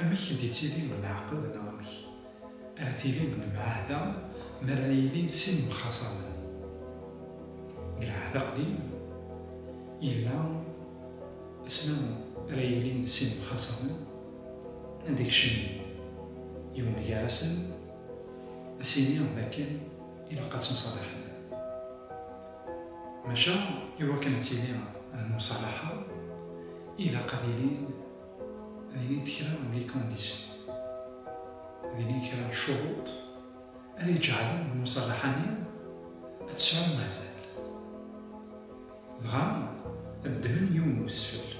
Amek i d-ittili lɛaqed neɣ amek ara tili lemɛahda mi ara yilin sin yemxaṣamen? Deg lɛahd aqdim yella asmi ara yilin sin yemxaṣamen ad d-ikcem yiwen gar-asen ad s-yini d akken ilaq ad ttemṣalaḥen. Maca i wakken ad tili lmuṣalaḥa ilaq ad ilin Dinit kra n likondisyon, dinit kra n lcuruṭ ara iǧeɛlen lmuṣalaḥa-nni ad tesɛum azal. Dɣa ad ddmen yiwen n wesfel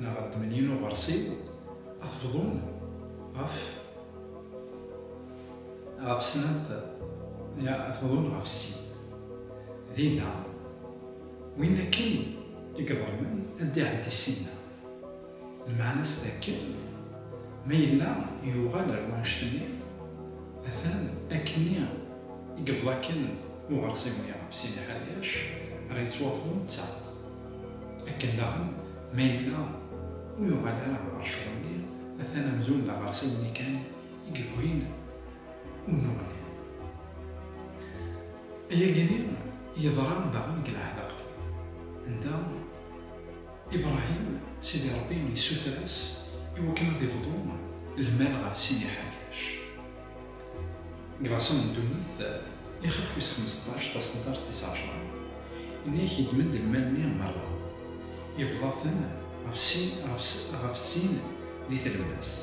neɣ ad ddmen yiwen n uɣersiw ad t-bḍun ɣef ɣef snat neɣ ad t-bḍun ɣef sin. Dinna, win akken i iḍelmen ad d-iɛeddi ssinna. Lmeɛna-s d akken ma yella yuɣal ar wanect-nni, atan akkenni i yebḍa akken uɣersiw-nni ɣef Sidi Ḥriac ara yettwafḍu netta, akken daɣen ma yella ur yuɣal ara ɣer ccɣel-nni, atan amzun d aɣersiw-nni kan i yewwin unuɣ-nni. Ayagi-nni yeḍra daɣen deg lɛehd aqdim, anda. Ibrahim, Sidi Ṛebbi yessuter-as i wakken ad ibḍu lmal ɣef sin iḥerkac. Deg laṣel n ddunit, ixef wis xmesṭac taṣentart tis ɛecṛa, yenna-ak yeddem-d lmal-nni meṛṛa, ibḍa-ten ɣef sin ɣef sin di tlemmast.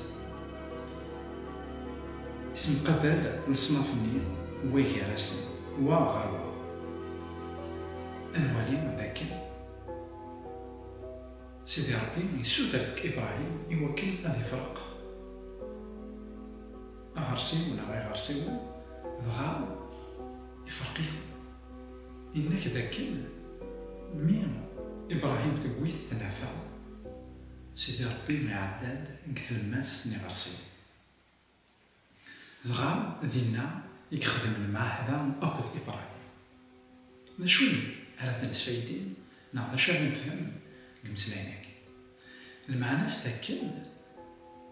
Issemqabal leṣnaf-nni wa gar-asen, wa ɣer wa. Ad nwali dakken. Sidi Ṛebbi yessuter-d i Bṛahim i wakken ad ifreq aɣersiw neɣ iɣersiwen, dɣa ifreq-iten. Yenna-k d akken mi i Bṛahim tewwi-t tnafa, Sidi Ṛebbi iɛedda-d deg tlemmast n iɣersiwen. Dɣa dinna i yexdem lmeɛahda akked Ibrahim. D acu ara d-nesfaydi neɣ d acu ara nefhem deg imeslayen-agi? Lmeɛna-s d akken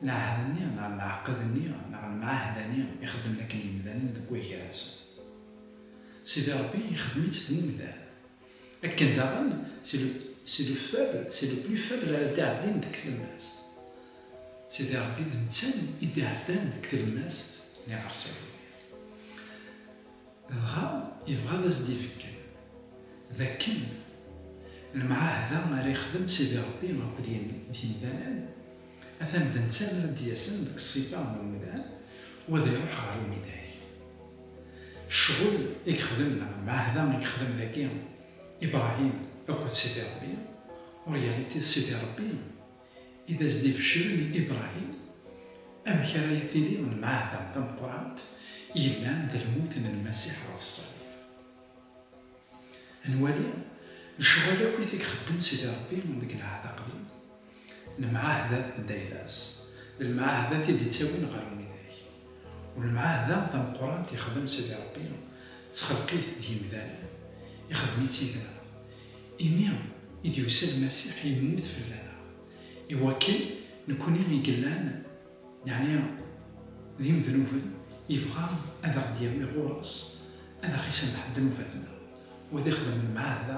lɛahd-nni neɣ lɛeqd-nni neɣ lmeɛahda-nni i xeddmen akken yimdanen deg wagar-nsen, Sidi Rebbi ixdem-itt d umdan, Akken daɣen, c'est le faible, c'est le plus faible ara d-iɛeddin deg tlemmast. Sidi Rebbi d netta i d-iɛeddan deg tlemmast n iɣersiwen-nni. Dɣa yebɣa ad as-d-ibeggen d akken lemɛahda ara yexdem Sidi Rebbi akked yemdanen, atan d netta ara d-yasen deg ṣṣifa n umdan u ad iruḥ ɣer umidag. Ccɣel i yexdem neɣ lmeɛhda i yexdem dagi Ibrahim akked Sidi Ṛebbi, en réalité d Sidi Ṛebbi i d as-d-ibecren i Ibrahim amek ara yi-tili lmeɛhda tameqqrant yellan d lmut n Lmasiḥ ɣef ṣṣalib. Ad nwali lecɣal akkit i yexdem Sidi Ṛebbi deg Lɛehd Aqdim Lemɛahdat n Daylas, d lemɛahdat i d-ittawin ɣer lwidak. U lemɛahda tameqqrant ixdem Sidi Rebbi d txelqit d yimdanen, ixdem-itt yid-neɣ, imi i d-yusa Lmasiḥ yemmut fell-aneɣ, i wakken nekkni i yellan, yeɛni d imednuben, yebɣa ad aɣ-d-yawi ɣur-s, ad aɣ-isameḥ ddnubat-nneɣ, u ad ixdem lemɛahda